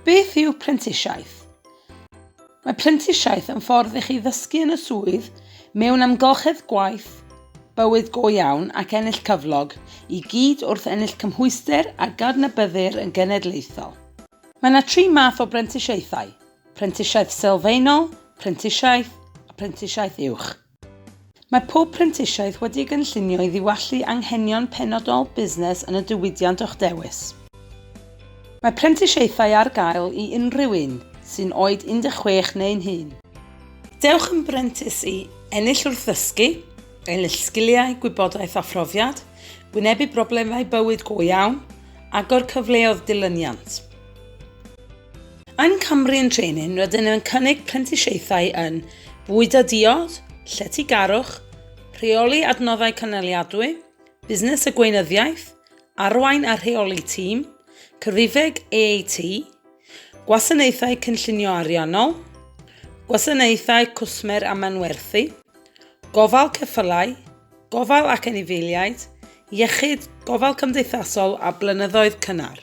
Beth yw prentisiaeth? Mae prentisiaeth yn ffordd i chi ddysgu yn y swydd mewn amgylchedd gwaith bywyd go iawn ac ennill cyflog i gyd wrth ennill cymhwyster a gadnabyddir yn genedlaethol. Mae yna tri math o brentisiaethau, prentisiaeth sylfaenol, prentisiaeth a prentisiaeth uwch. Mae pob prentisiaeth wedi'i gynllunio i ddiwallu anghenion penodol busnes yn y diwydiant o'ch dewis. Mae prentisiaethau ar gael i unrhyw un sy'n oed 16 neu'n hŷn. Dewch yn brentis i ennill wrth ddysgu, ennill sgiliau, gwybodaeth a phrofiad, wynebu problemau bywyd go iawn, agor cyfleoedd dilyniant. Yn Cymru yn Training rydyn yn cynnig prentisiaethau yn bwyd a diod, lletygarwch, rheoli adnoddau cynaliadwy, busnes a gweinyddiaeth, arwain a rheoli tîm, cyfrifeg AAT, gwasanaethau cynllunio ariannol, gwasanaethau cwsmer a manwerthu, gofal ceffylau, gofal ac anifeiliaid, iechyd, gofal cymdeithasol a blynyddoedd cynnar.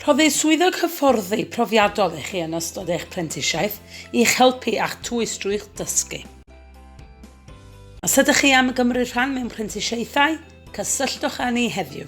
Rhoddir swyddog hyfforddi profiadol i chi yn ystod eich prentisiaeth i'ch helpu a'ch twys drwy'ch dysgu. Os ydych chi am gymryd rhan mewn prentisiaethau, cysylltwch â ni heddiw.